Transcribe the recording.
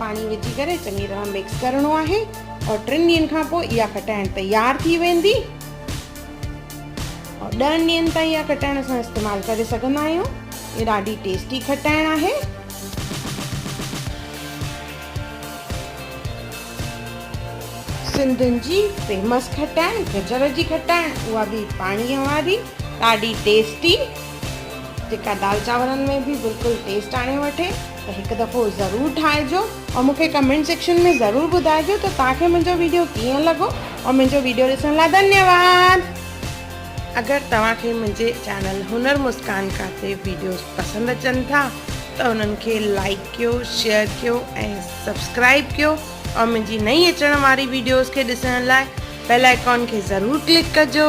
پاڻي وجهي ڪري چڱي طرح مڪس ڪرڻو آهي ۽ ٽن ڏينهن کان پوء اها کٽائڻ تيار ٿي ويندي ۽ ڏهن ڏينهن تائين اها کٽائڻ اسان استعمال ڪري سگهندا آهيون هي ڏاڍي ٽيسٽي کٽائڻ آهي سنڌين جي فيمس کٽائڻ گجر جي کٽائڻ اها به پاڻيء واري ڏاڍي ٽيسٽي جيڪا دال چانورن ۾ به بلڪل ٽيسٽ آڻي وٺي ته هڪ دفعو ضرور ٺاهجو ۽ مونکي ڪمينٽ سيڪشن ۾ ضرور ٻڌائجو ته توهان کي منهنجو ويڊيو ڪيئن لڳو ۽ منهنجو ويڊيو ڏسڻ لاء ڌنيواد اگر توهان کي منهنجي چينل هنر مسڪان ڪا تي ويڊيوز پسند اچن ٿا ته انهن کي لائڪ ڪيو شيئر ڪيو ۽ سبسڪرائب ڪيو ۽ منهنجي نئين اچڻ واري ويڊيوز کي ڏسڻ لاء بيل آئيڪان کي ضرور ڪلڪ ڪجو.